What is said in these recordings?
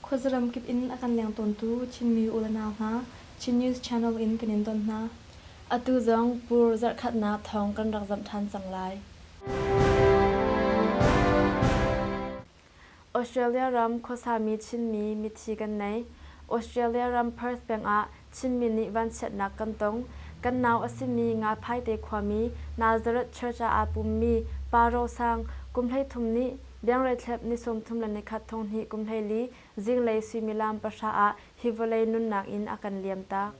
Khuazaram kip in a kan leng tawntu Chinmi u le nau hna Chin News Channel in kan in ton hna. Atu zong pur zarhkhatnak thawng kan rak zamh ṭhan cang lai. Australia ram khuasami Chinmi mithi kan nei. Australia ram Perth peng ah Chinmi nih vanchiatnak kan tong. Kan nau a simi Ngaphaite khuami Nazareth Church ah aa pummi Pa Ro Sang, kum hleithum nih Biangreithlep ni sawmthum le nikhat thonghnih kum hlei li zinglei suimilam pahra ah hi vawlei nunnak inn a kan liamtak.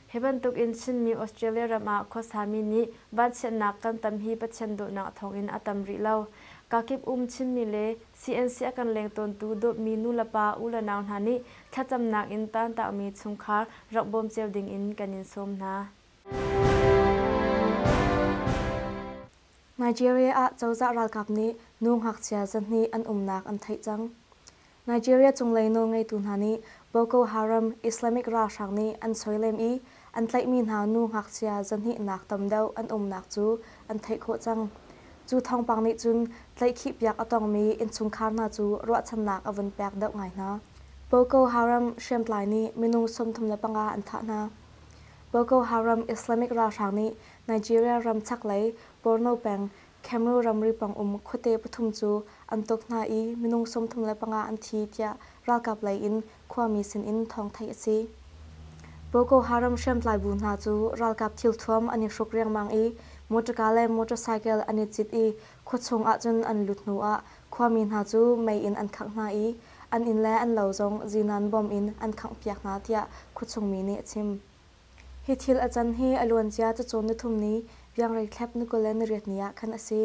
Hi bantukin Chinmi Australia ram ah khuasami nih vanchiatnak kan tam hi Pathian dawtnak a thawngin a tam rih lo. Kakip um Chinmi le CNC a kan leng tawntu dawtmi nulepa u le nau hna nih thlacamnak in taantaakmi chungkhar rak bawm cio dingin kan in sawm hna. Nigeria ah cozah ralkap nih nu ngakchia zahnih an umnak an theih cang. Nigeria cunglei nawlngeitu hna nih Boko Haram Islamic ralhrang nih an soilem i an tlaihmi hna nu ngakchia zahnihnak tam deuh an umnak cu an theih khawh cang. Cu thawngpang nih cun tlaihkhihpiak a tongmi innchungkhar hna cu ruahchannak a vun pek deuh ngai hna. Boko Haram hriamtlai nih minung sawmthum le panga an thah hna. Boko Haram Islamic ralhrang nih Nigeria ram chaklei Borno peng Cameroon ramri pang um khuate pathum cu an tuk hna i minung sawmthum le panga an thi tiah ralkap lei in khuami sin in thawng theih a si. Boko Haram hriamtlai bu hna cu ralkap thilthuam an i hruk riangmang i motorka le motorcycle an i cit i khuachung ahcun an lut hnu ah khuami hna cu mei in an khangh hna i an inn le an lo zong zinan bom in an khangh piak hna tiah khuachungmi nih a chim. Hi thil a can hi a luancia cacawn ni thum ni Piangreithlep ni kul le nariat ni ah khan a si.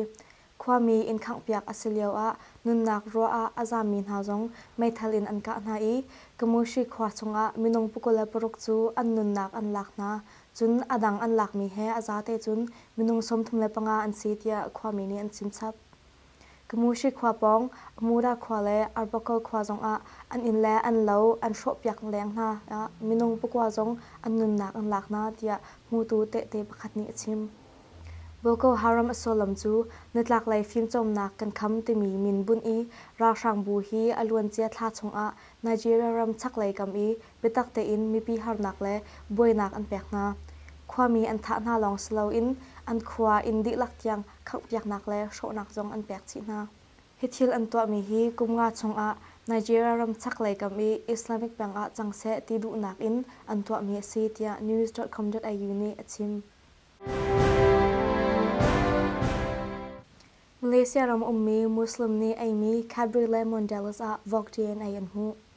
Khuami inn khanghpiak a si lioah nunnak ruah ah a zammi hna zong meithal in an kah hna i Kamushi khua chungah minung pukul le paruk cu an nunnak an lak hna. Cun a dang an lakmi he a zate cun minung sawmthum le panga an si tiah khuami nih an chim chap. Kamushi khua pawng Mura khua le Arbakal khua zongah an inn le an lo an hrawhpiak leng hna ah minung pakua zong an nunnak an lak hna tiah hmutu tehte pakhat nih a chim. Boko Haram a sullam cu Nitlaklei fimcawnnak kan kham timi min bunh i ralhrangbu hi a luancia thla chungah Nigeria ram chaklei kam i biatak tein mipi harnak le buainak an pek hna. Khuami an thah hna lawng si loin an khua inn dihlak tiang khanghpiaknak le hrawhnak zong an pek chih hna. Hi thil an tuahmi hi kum nga chungah Nigeria ram chaklei kam i Islamic peng ah cang seh ti duhnak in an tuahmi a si tiah news.com.au nih a chim. Malaysia ram ummi Muslim nih eimi Cadbury le Mondelez ah Vogue DNA an hmuh.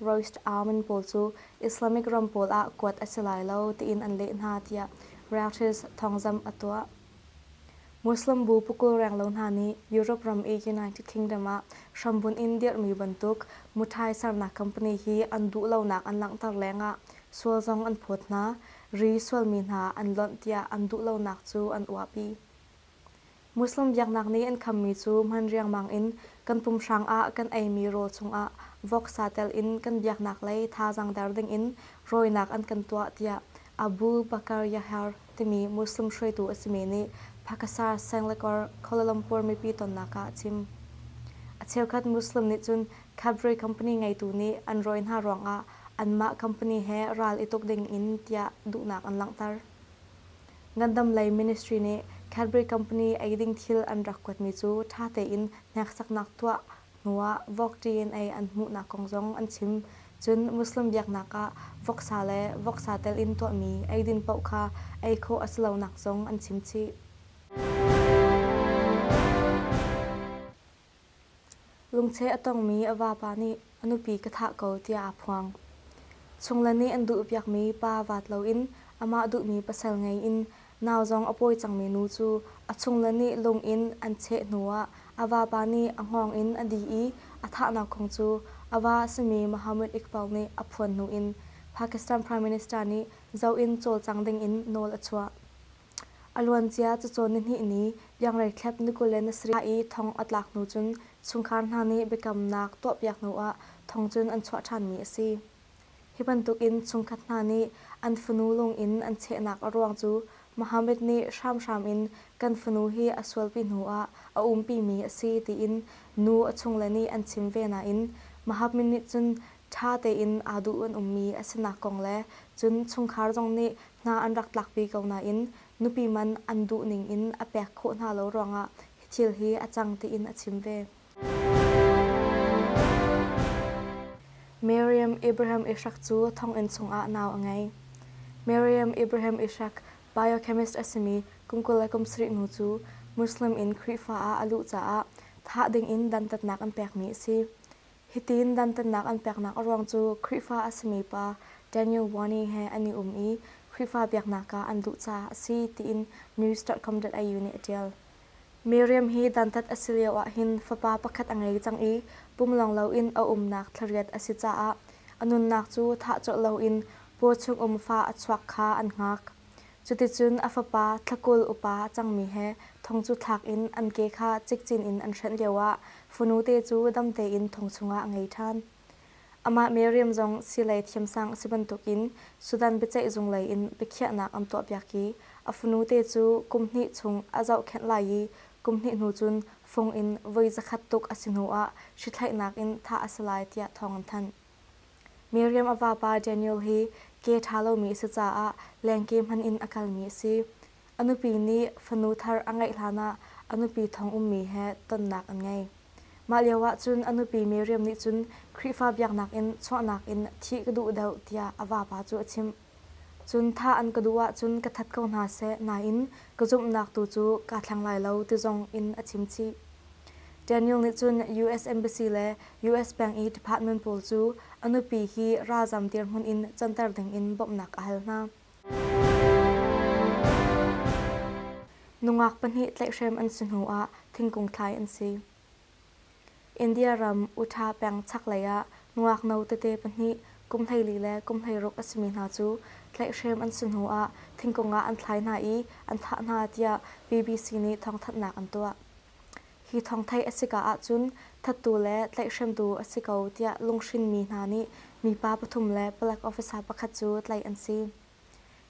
Roast almond pawl cu Islamic ram pawl ah kuat a si lai lo tiin an leh hna tiah Reuters thawngzamh a tuah. Muslim bu pukul renglo hna nih Europe ram i United Kingdom ah hrambunh in dirhmi bantuk muthai sernak company hi an duhlonak an langhter lengah sual zong an phawt hna, ri sualmi hna an lonh tiah an duhlonak cu an uahpi. Muslim biaknak nih an khammi cu hman riangmang in kan pumhrang ah kan eimi rawl chungah voksa telin kan biaknak lei thazaang der dingin rawinak an kan tuah tiah Abu Bakr Yahya timi Muslim hruaitu a simi nih Pakisar Sanglakur, Kuala Lumpur mipi tonnak ah a chim. A cheukhat Muslim nih cun Cadbury company ngeitu nih an rawi hna ruangah anmah company he ral i tuk dingin tiah duhnak an langhter. ngandam lei ministry nih Cadbury company eiding thil an rak kuatmi cu ṭha tein hneksaknak tuah hnuah vok ṭiin ei an hmuhnak kong zong an chim. Cun Muslim biaknak ah voksa le voksa tel in tuahmi eidin paoh kha ei khawh a si lonak zong an chim chih. Lungcheh a tongmi a vapa nih a nupi ka thah ko tiah aa phuang. Chung le nih an duhpiakmi pa vaat loin amah duhmi pasal ngei in nau zong a pawi cangmi nu cu a chung le nih lung in an cheh hnuah a vapa nih a hngawng in a dih i a thahnak kong cu a va a simi Mohammad Iqbal nih a phuan hnu in Pakistan Prime Minister nih zoh in cawlcang dingin nawl a chuah. A luancia cacawn nihnih ni liangrei thlep nikulen a sarih i thong a tlak hnu cun chungkhar hna nih biakamnak tuahpiak hnuah thong cun an chuah ṭhanmi a si. Hi bantukin chungkhat hna nih an fanu lungin an chehnak a ruang cu Mohammed nih hramhram in kan fanu hi a sualpi hnuah a umpimi a si tiin nu a chungle nih an chim ve nain Mohammed nih cun ṭha tein aa duh an ummi a sinak kong le cun chungkhar zong nih hna an rak tlak ve ko nain nupi man an duh ning in a pek khawh hna lo ruangah hi thil hi a cang tiin a chim ve. Miriam Abraham Ishak cu thonginn chungah nau a ngei. Miriam Abraham Ishak biochemist a simi kum kul le kum sarih nu cu Muslim in Khrihfa ah a luh caah thah ding in dantatnak an pekmi a si. Hitin dantatnak an peknak a ruang cu Khrihfa a simi pa Daniel Warney he an i um i Khrihfa biaknak ah an duh caah a si tiin news.com.au nih a ṭial. Miriam hi dantat a si lio ahhin fapa pakhat a ngei cang i pumlawng loin a umnak thlariat a si caah a nunnak cu thah colh loin paw chung um fa a chuak kha an hngak. Cuticun a fapa thlakul upa a cangmi he thong cu thlak in an ke kha cikcin in an hrenh lioah fanute cu dam tein thong chungah a ngei ṭhan. Amah Miriam zong silei thiamsang a si bantukin Sudan biaceihzung lei in biakhiahnak an tuahpiak i a fanute cu kum hnih chung a zohkhenh lai i kum hnih hnu cun fung in voi zakhat tuk a si hnuah hrithlaihnak in thah a si lai tiah thawng an thanh. Miriam a vapa Daniel hi ke ṭha lomi a si caah lengke hmanh in a kalmi a si. A nupi nih fanu thar a ngeih hlanah a nupi thong ummi he tonnak an ngei. Mah lioah cun a nupi Miriam nih cun Khrihfa biaknak in chuahnak in thih ka duh deuh tiah a vapa cu a chimh. Cun thah an ka duh ahcun ka that ko hna seh nain ka zumhnak tu cu kaa thleng lai lo ti zong in a chim chih. Daniel nih cun US Embassy le US peng i department pawl cu a nupi hi ralzam dirhmun in canter dingin bawmhnak a hal hna. Nungak pahnih tlaihhrem an si hnuah thingkung thlai an si. india ram utah peng chaklei ah ngakno tete pahnih kum hleili le kum hleiruk a simi hna cu tlaihhrem an si hnu ah thingkung ah an thlai hna i an thah hna tiah bbc nih thawngthanhnak an tuah hi thawngthei a sika ahcun thattu le tlaihhremtu a si ko tiah lunghrinmi hna nih mipa pathum le palek officer pakhat cu tlaih an si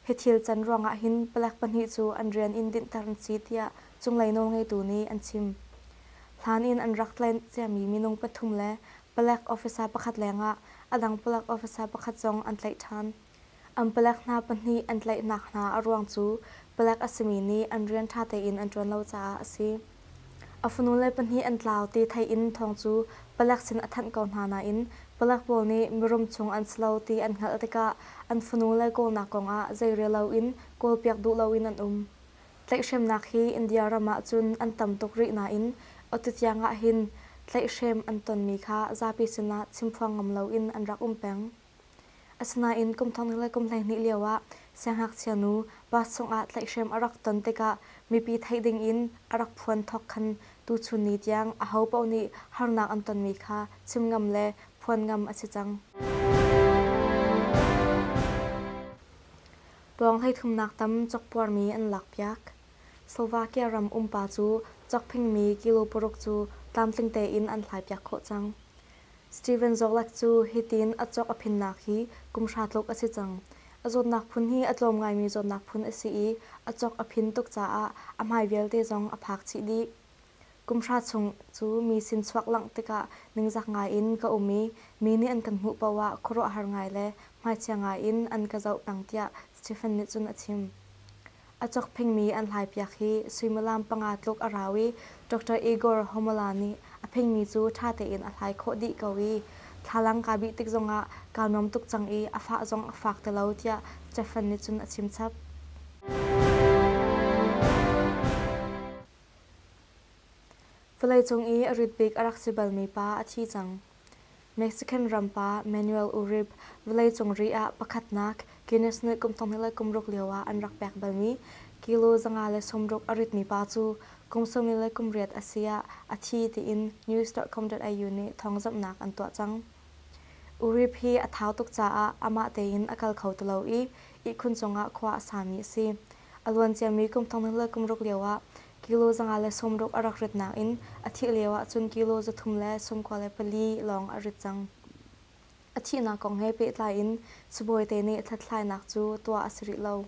Hi thil can ruangah hin palek pahnih cu an rian in dinhter an si tiah cunglei nawlngeitu nih an chim. Hlan in an rak tlaih ciami minung pathum le palek officer pakhat lengah a dang palek officer pakhat zong an tlaih ṭhan. An palek hna pahnih an tlaihnak hna a ruang cu palek a simi nih an rian ṭha tein an ṭuan lo caah a si. A fanu le pahnih an tlau ti thei in thawng cu palek sin a thanh ko hna nain palek pawl nih mirum chung an si lo ti an hngalh tikah an fanu le kawlnak kongah zeirel loin kawlpiak duh loin an um. Tlaihhremnak hi India ram ah cun an tam tuk rih nain atu tiang ah hin tlaihhrem an tonmi kha zapi sinah chimphuang ngam loin an rak um peng. Asinain kum thong le kum hleihnih lioah siangngakchia nu bus cungah tlaihhrem a rak ton tikah mipi theih dingin a rak phuan thawk khan tuchun ni tiang aho paoh nih harnak an tonmi kha chim ngam le phuan ngam a si cang. Pawng hleithumnak tam cokpuarmi an lakpiak. Slovakia ram umpa cu cokphingmi kilo paruk cu tlamtling tein an hlaipiak khawh cang. Steven Zollak cu hitin a cawk a phinnak hi kum hra tluk a si cang. A zawtnak phun hi a tlawm ngaimi zawtnak phun a si i a cawk a phin tuk caah a hmai vialte zong a phak chih dih. Kum hra chung cu mi sin chuak langh tikah ningzak ngai in ka um i mi nih an kan hmuh paoh ah khuaruahhar ngai le hmaichia ngai in an ka zoh peng tiah Stephen nih cun a chim. A cakphengmi an hlaipiak hi suimilam panga tluk a rau i Dr. Igor Homola nih a phengmi cu ṭha tein a hlai khawh dih ko i thlalang kaa bih tik zongah kaa nuam tuk cang i a fah zong a fak ti lo tiah Stefan nih cun a chim chap. Vawleicung i a rit bik a rak si balmi pa a thi cang. Mexican ram pa Manuel Uribe vawleicung ri ah pakhatnak Guinness nih kum thonglei le kum ruk lioah an rak pek balmi kilo zanga le sawmruk a ritmi pa cu kum sawm li le kum riat a si ah a thi tiin news.com.au nih thawngzamhnak an tuah cang. Uribe hi a thau tuk caah amah tein a kal kho ti lo i ihkhun cungah khua a sami a si. A luanciami kum thonglei le kum ruk lioah Kilo zanga le sawmruk a rak ritnak in a thih lio ahcun kilo za thum le sawmkua le pali lawng a rit cang. A thihnak kong he pehtlai in sibawite nih hlathlainak cu tuah a si rih lo.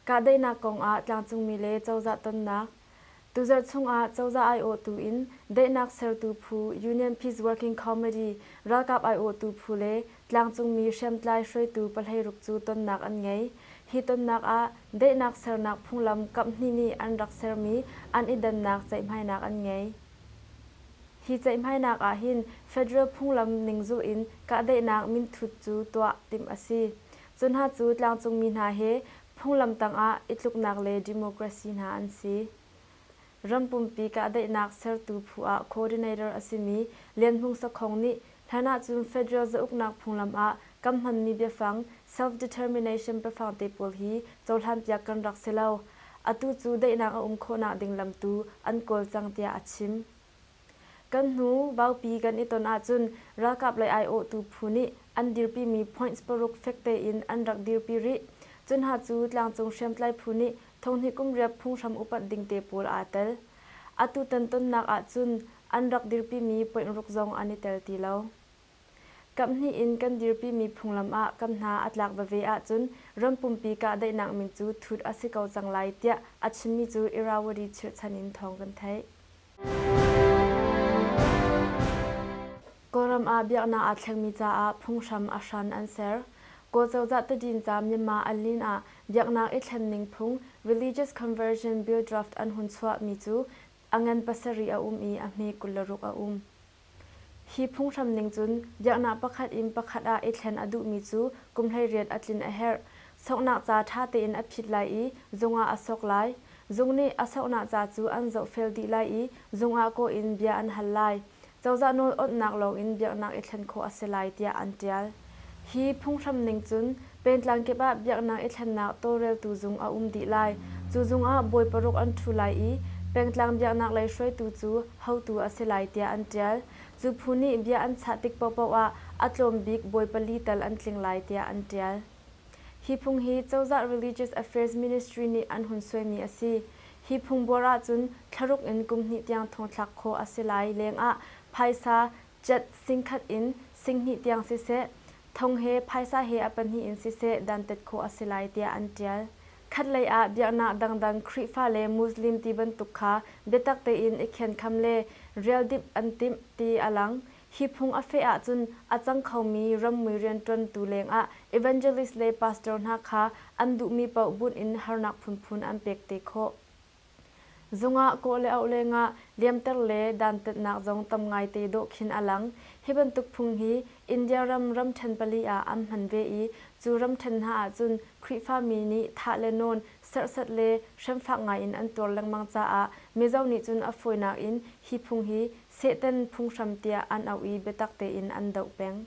Kahdohnak kong ah tlangcungmi le cozah tonnak Tuzarh chungah cozah aiawhtu in daihnak sertu phu Union Peace Working Comedy ralkap aiawhtu phu le tlangcungmi hriamtlai hruaitu pahlei ruk cu tonnak an ngei. Hi tonnak ah daihnak sernak phunglam kamh hnih nih an rak sermi an i dannak ceihhmainak an ngei. Hi ceihhmainak ahhin federal phunglam ning zulh in kahdaihnak minthut cu tuah timh a si. Cu hna cu tlangcungmi hna he Phunglam tangah itluknak le democracy hna an si. Ram pumpi kahdaihnak sertu phu ah coordinator a simi Lian Hmung Sakhong nih hlan ahcun federal zauknak phunglam ah kan hmanmi biafang self-determination biafang te pawl hi cohlanpiak kan rak si lo. Atu cu daihnak a um khawh nakding lam tu an kawl cang tiah a chim. Kan hnu Vaupi kan i ton ahcun ralkap lei aiawhtu phu nih an dirpimi points paruk fek tein an rak dirpi rih. Cunha cu tlangcung hriamtlai phu nih thonghnih kum riap phunghram upat ding te pawl aa tel. Atu tan tonnak ahcun an rak dirpimi poinruk zong an i tel ti lo. Kamhnih in kan dirpimi phunglam ah kan hna a tlak veve ahcun ram pumpi kahdaihnak min cu thut a si ko cang lai tiah a chimmi cu Irrawaddy chirhchan in thawng kan theih. Kawlram ah biaknak aa thlengmi caah phunghram a hran an ser. Kawl cozah tadin ca Myanmar an lin ah biaknak i thlenning phung, Religious Conversion Bill Draft an hun chuahmi cu a ngan pasarih a um i a hme kul le ruk a um. Hi phunghram ning cun biaknak pakhat in pakhat ah i thlen a duhmi cu kum hleiriat a tlin a herh. Soknak ca ṭha tein a phit lai i zung ah a sok lai. Zung nih a soknak ca cu an zohfel dih lai i zung ah kawh in bia an hal lai. Cozah nawl awnhnak lawng in biaknak i thlen khawh a si lai tiah an ṭial. Hi phunghram ning cun pengtlang kip ah biaknak i thlennak tawlreltu zung a um dih lai. Cu zung ah bawi paruk an ṭhu lai i pengtlang biaknak lei hruaitu cu hotu a si lai tiah an ṭial. Cu phu nih bia an chah tik paohpaoh ah a tlawm bik bawi pali tal an tling lai tiah an ṭial. Hi phung hi cozah Religious Affairs Ministry nih an hun suaimi a si. Hi phung buar ahcun thlaruk in kum hnih tiang thong thlak khawh a si lai leng ah phaisa, Cet singkhat in singhnih tiang siseh, thong he phaisa he a pahnih in siseh dantat khawh a si lai tiah an ṭial. Khatlei ah biaknak dangdang Khrihfa le Muslim ti bantuk kha biatak tein i khenkham le rialdimh an timh ti a lang. Hi phung a feh ahcun a cang khomi rammui rianṭuantu lengah evangelist le pastor hna kha an duhmi paoh bunh in harnak phunphun an pek te khawh. Zungah kawh le auh lengah liamter le dantatnak zong tam ngaite dawh khin a lang. Hi bantuk phung hi India ram ramṭhen pali ah an hman ve i cu ramṭhen hna ahcun Khrihfami nih thah le nawn, serhsat le hremfak ngaiin an tuar lengmang caah Mizo nih cun a fawinak in hi phung hi Satan phunghram tiah an auh i biatak tein an doh peng.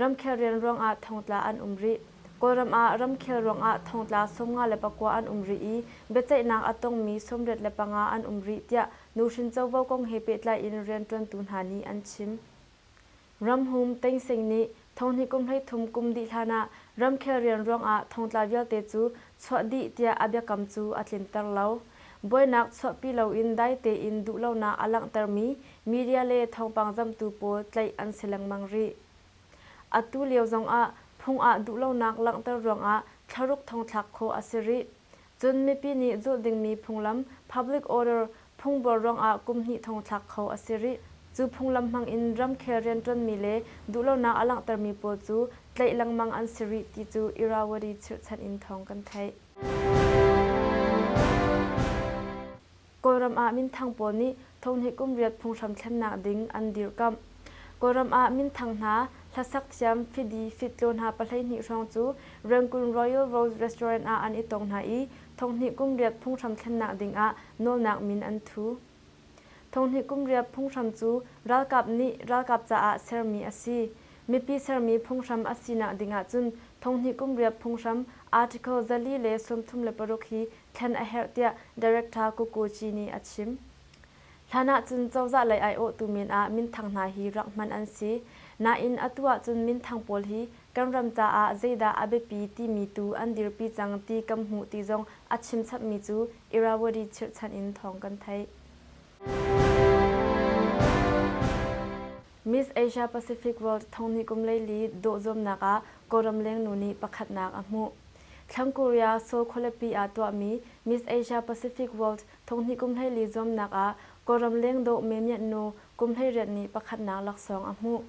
Ramkhel rian ruangah thongtla an um rih. Kawlram ah ramkhel ruangah thongtla sawmnga le pakua an um rih i biaceihnak a tongmi sawmriat le panga an um rih tiah nuhrin covo kong he pehtlai in rianṭuantu hna nih an chim. Ramhum Teng Sing nih Thonghni kum hleithum kum dih hlanah ramkhel rian ruangah thongtla vialte cu chuah dih tiah a biakam cu a tlinter lo. Buainak chuahpi loin dai tein duhlonak a langhtermi media le thawngpang zamhtu pawl tlaih an si lengmang rih. Atu lio zongah phung ah duhlonak langhter ruangah thlaruk thong thlak khawh a si rih. Cun mipi nih zulh dingmi phunglam, public order, phungbol ruangah kum hnih thong thlak kho a si rih. Cu phunglam hmangin ramkhel rianṭuanmi le duhlonak a langhtermi pawl cu tlaih lengmang an si rih ti cu Irrawaddy chirhchanh in thawng kan theih. Kawlram ah minthang pawl nih thawhnih kum riat phunghram thlennak ding an dirkamh. Kawlram ah minthang hna hlasak thiam fidi fitlaw hna pahleihnih hrawng cu Rangoon Royal Rose Restaurant ah an i tong hna i thawhnih kum riat phunghram thlennak ding ah nawlnak min an thu. Thawhnih kum riat phunghram cu ralkap nih ralkap caah sermi a si. Mipi sermi phunghram a sinak ding ahcun thawhnih kum riat phunghram article zali le sawmthum le paruk hi thlen a herh tiah Director Kukuci nih a chim. Hlan ahcun cozah lei aiawhtu min ah minthang hna hi rak hman an si. Nain atu ahcun minthang pawl hi kan ram caah zeidah a biapi timi tu an dirpi cang ti kan hmuh ti zong a chimchapmi cu Irrawaddy chirhchan in thawng kan theih. Miss Asia Pacific World thongni kum leili dawh zuamnak ah Kawlram lengnu nih pakhatnak a hmuh. Thlang Korea Seoul khualipi ah tuahmi Miss Asia Pacific World thonghni kum hleili zuamnak ah Kawlram lengdawh Memianh-nu kum hleiriat nih pakhatnak laksawng a hmuh.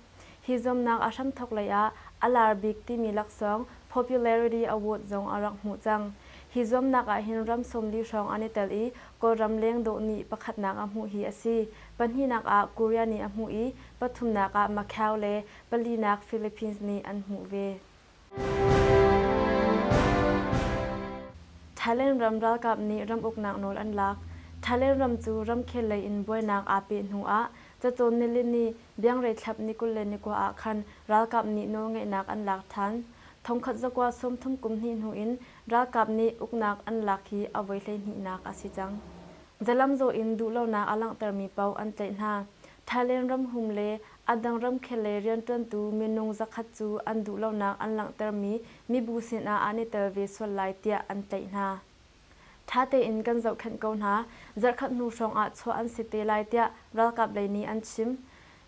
Hi zuamnak a hramthawk lei ah a lar bik timi laksawng Popularity Award zong a rak hmuh cang. Hi zuamnak ahhin ram sawm li hrawng an i tel i Kawlram lengdawh nih pakhatnak a hmuh hi a si, Pahnihnak ah Korea nih a hmuh i pathumnak ah Macau le palinak Philippines nih an hmuh ve. Thailand ram ralkap nih ram uknak nawl an lak. Thailand ram cu ramkhel lei in buainak aa peh hnu ah cacawn nilin ni Biangrei thlap ni kul le ni kua ah khan ralkap nih nawlngeihnak an lak than. Thongkhat zakua sawmthum kum hnih hnu in ralkap nih uknak an lak hi a voi hleihhnihnak a si cang. zalamzaw in duhlonak a langhtermi paoh an tlaih hna. Thailand ramhum le a dang ramkhel lei rianṭuantu minung zakhat cu an duhlonak an langhtermi mibu sinah an i tel ve sual lai tiah an tlaih hna. Ṭha tein kan zohkhenh ko hna, zarhkhat hnu hrawng ah chuah an si te lai tiah ralkap lei nih an chim.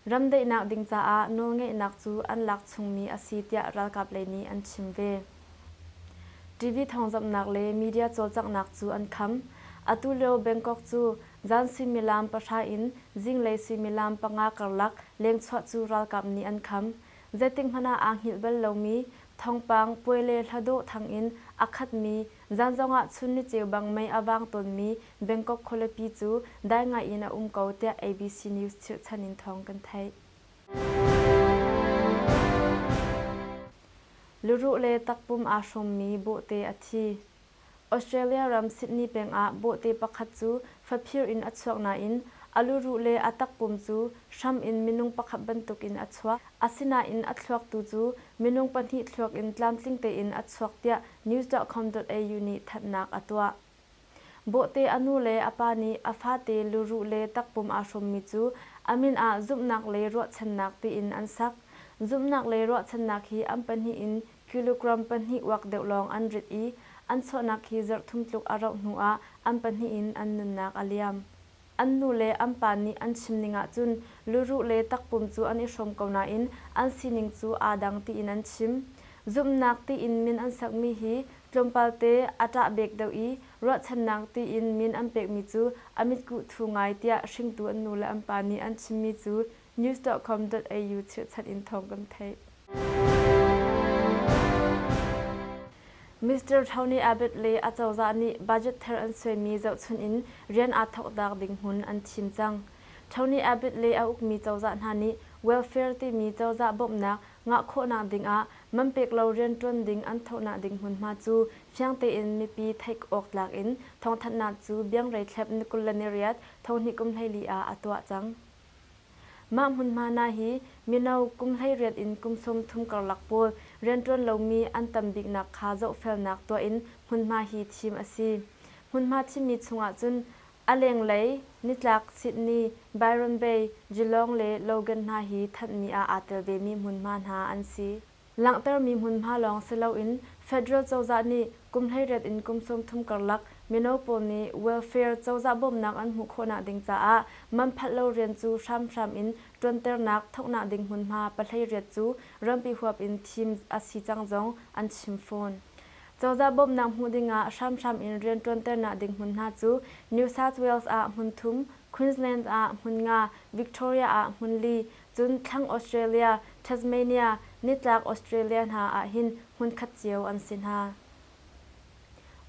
Ram daihnak ding caah nawlngeihnak cu an lak chungmi a si tiah ralkap lei nih an chim ve. TV thawngzamhnak le media cawlcanghnak cu an kham. Atu lio Bangkok cu zan suimilam pahra in zinglei suimilam panga karlak lengchuah cu ralkap nih an kham. Zeitikhmanh ah aa hngilh bal lomi, thawngpang puai le hladawh thang in a khatmi Zan zongah chun ni cheubang mei a vang tawnmi Bangkok khualipi cu dai ngai in a um ko tiah ABC News chirhchan in thawng kan theih. Luruh le takpum aa hrawmmi bawhte a thi. Australia ram Sydney pengah bawhte pakhat cu faphir in a chuak nain a luruh le a takpum cu hram in minung pakhat bantuk in a chuak. Asinain a thluaktu cu minung pahnih thluak in tlamtling tein a chuak tiah news.com.au nih thatnak a tuah. Bawhte a nu le a pa nih a fate luru le takpum aa hrawmmi cu a min ah zumhnak le ruahchannak tiin an sak. Zumhnak le ruahchannak hi an pahnih in kilogram pahnih uak deuh lawng an rit i an chuahnak hi zarh thum tluk a rauh hnu ah an pahnih in an nunnak a liam. An nu le an pa nih an chim ning ahcun luruh le takpum cu an i hrawm ko nain an sining cu aa dang tiin an chim. Zumhnak tiin min an sakmi hi tlawmpalte a ṭahbek deuh i ruahchannak tiin min an pekmi cu a mitkuh thu ngai tiah hringtu an nu le an pa nih an chimmi cu news.com.au chirhchan in thawng kan theih. Mr. Tony Abbott le a cozah nih budget thar an suaimi zohchunh in rian aa thawktak ding hmun an thim cang. Tony Abbott le a ukmi cozah hna nih welfare timi cozah bawmhnak ngah khawhnak ding ah man pek lo rianṭuan ding an thohnak ding hmunhma cu fiang tein mipi theih awk tlak in thawngthanhnak cu biangrei thlep ni kul le ni riat thonghnih kum hleili ah a tuah cang. Mah hmunhma hna hi mino kum hleiriat in kum sawmthum karlak pawl rianṭuan lomi an tam biknak kha zohfelnak tuah in hmunhma hi thim a si. Hmunhma thimmi chungah cun a lenglei, nitlak Sydney, Byron Bay, Geelong le Logan hna hi thanhmi ah aa tel vemi hmunhma hna an si. Langhtermi hmunhma lawng si loin federal cozah nih kum hleiriat in kum sawmthum karlak mino pawl nih welfare cozah bawmnak an hmuh khawhnak ding caah man phalh lo rian cu hramhram in ṭuanternak thawknak ding hmunhma pahleiriat cu rampi huap in thim a si cang zong an chim fawn. Cozah bawmnak hmuh dingah hramhram in rianṭuanternak ding hmunhna cu New South Wales ah hmun thum, Queensland ah hmun nga, Victoria ah hmun li, Cun thlang Australia, Tasmania, nitlak Australia hna ah hin hmunkhat cio an si hna.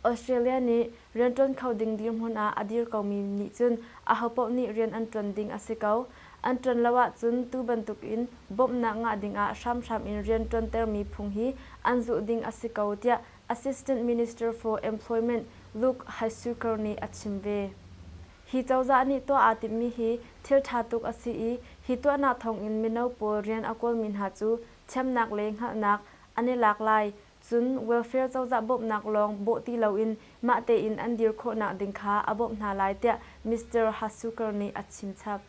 Australia nih rian ṭuan kho ding dirhmun ah a dir komi nih cun ahopaoh nih rian an ṭuan ding a si ko. An ṭuan lo ahcun tu bantukin bawmhnak ngah dingah hramhram in rian ṭuantermi phung hi an zulh ding a si ko tiah Assistant Minister for Employment Luke Hysukar nih a chim ve. Hi cozah nih tuah aa timhmi hi thil ṭha tuk a si i hi tuahnak thawngin mino pawl rian a kawlmi hna cu thiamnak le hngalhnak an i lak lai, cun welfare cozah bawmhnak lawng bawh ti loin mah tein an dir khawhnak ding kha a bawmh hna lai tiah Mister Hasuker nih a chimchap.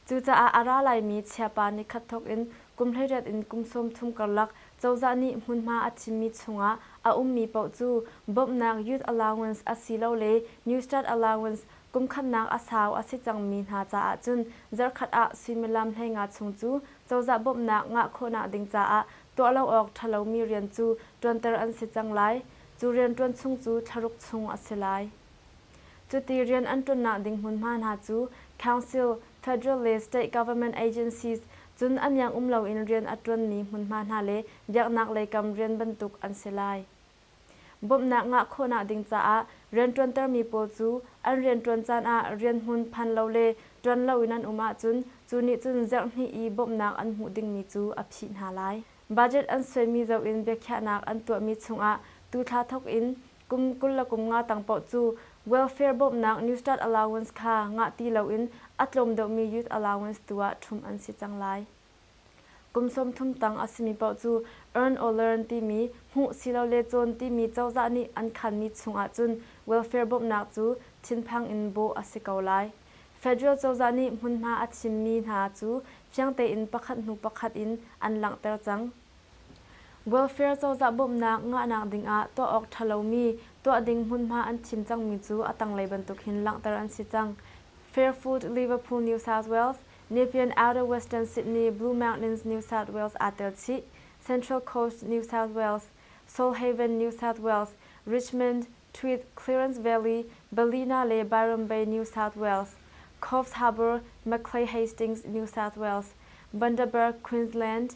Cucaah a ra laimi chiapa nikhat thawk in kum hleiriat in kum sawm thum karlak cozah nih hmunhma a thimmi chungah a ummi paoh cu bawmhnak youth allowance asilole newstart allowance kumkhatnak a sau a si cangmi hna caah cun zarhkhat ah suimilam hleinga chung cu cozah bawmhnak ngah khawhnak ding caah tuah lo awk ṭhalomi rian cu ṭuanter an si cang lai. Cu rianṭuan chung cu thlaruk chung a si lai. Cuti rian an ṭunnak ding hmunhma hna cu Council, Federal le State Government Agencies, cun a niang um loin rian a ṭuanmi hmunhma hna le biaknaklei kam rian bantuk an si lai. Bawmhnak ngah khawhnak ding caah rianṭuantermi pawl cu an rianṭuan caan ah rianhmun phan lo le ṭuan loin an um ahcun cu nih cun zerhnih i bawmhnak an hmuh dingmi cu a phih hna lai. Budget an suaimi zoh in biakhiahnak an tuahmi chungah tu thla thawk in Kum kul le kum nga tang paoh cu welfare bawmhnak Newstart Allowance kha ngah ti loin a tlawm deuhmi youth allowance tu ah ṭhumh an si cang lai. Kum sawmthum tang a simi paoh cu earn awlearn timi hmuh silole cawn timi cozah nih an khanmi chungah cun welfare bawmhnak cu thinphang in bawh a si ko lai. Federal cozah nih hmunhma a thimmi hna cu fiang tein pakhat hnu pakhat in an langhter cang. Welfare cozah bawmhnak ngahnak dingah tuah awk ṭha lomi tuah ding hmunhma an thim cangmi cu a tanglei bantuk hin langhter an si cang. Fairfood Liverpool New South Wales, Nepean Outer Western Sydney Blue Mountains New South Wales aa tel chih, Central Coast New South Wales, Solhaven New South Wales, Richmond, Tweed, Clearance Valley, Ballina le Byram Bay New South Wales, Cofs Harbour, Maclay Hastings New South Wales, Bundaberg, Queensland,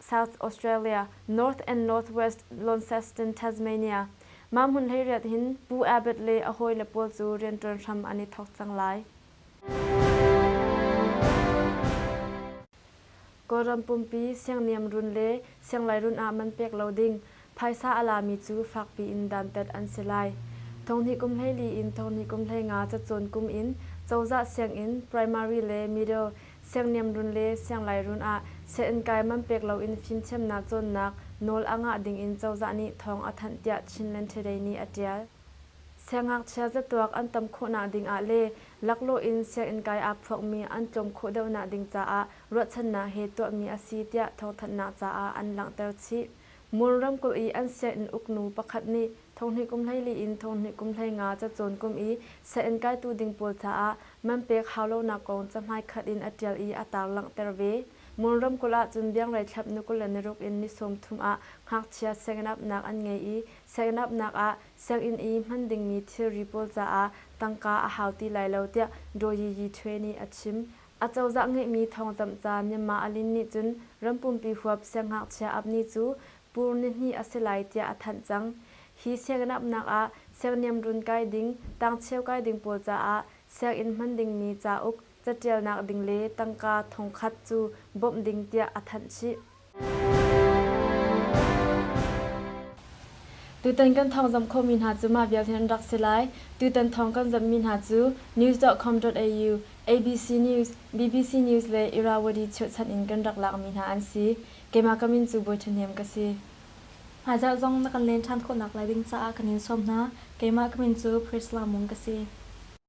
South Australia, North and Northwest Launceston, Tasmania, mah hmun hleiriat hin Pu Abbott le a hawile pawl cu rianṭuan hram an i thawk cang lai. Kawlram pumpi siangniam run le sianglai run ah man pek lo ding Phaisa a lami cu fakpi in dantat an si lai. Thonghnih kum hleili in thonghnih kum hleinga cacawn kum in cozah sianginn, primary le middle siangniamrun le sianglai-run ah siainn-kai man pek loin fimthiamnak cawnnak nawl a ngah dingin cozah nih thawng a thanh tiah Chinland Today nih a ṭial. Siangngakchia zatuak an tam khawhnak dingah le laklawh in sianginn-kai aa phuakmi an tlawm khawh deuhnak ding caah ruahchannak he tuahmi a si tiah thawngthanhnak caah an langhter chih. Mur ramkulh i an siainn uknu pakhat nih thonghnih kum hleili in thonghnih kum hlei nga cacawn kum i siainn kaitu ding pawl caah man pek hau lonak kong cahmai khat in a ṭial i a taar langhter ve. Mur ramkulh ahcun biangrei thlap ni kul le niruk in ni sawmthum ah ngakchia sianginn apnak an ngei i sianginn apnak ah sianginn i hman dingmi thilri pawl caah tangka a hau ti lai lo tiah Daw Yi Yi Thwe nih a chim. Acozah ngeihmi thawngcamh ca Myanmar a lin nih cun rampumpi huap siangngakchia Abni cu pur nihnih a si lai tiah a thanh cang. Hi sianginn apnak ah serniam run kai ding, tangcheu kai ding pawl caah sianginn hman dingmi cauk, catialnak ding le tangka thongkhat cu bawmh ding tiah a thanh chih. Tutan kan thawng zamh khawhmi hna cu mah vialte an rak si lai. Tutan thawng kan zamhmi hna cu news.com.au, ABC News, bbc News le Irrawaddy chirhchanh in kan rak lakmi hna an si. Keimah ka min cu Bawi Ṭhahnem ka si. Hmaizarh zong na kan len ṭhan khawhnak lai ding caah kan in sawm hna. Keimah ka min cu Priscilla Mung ka si.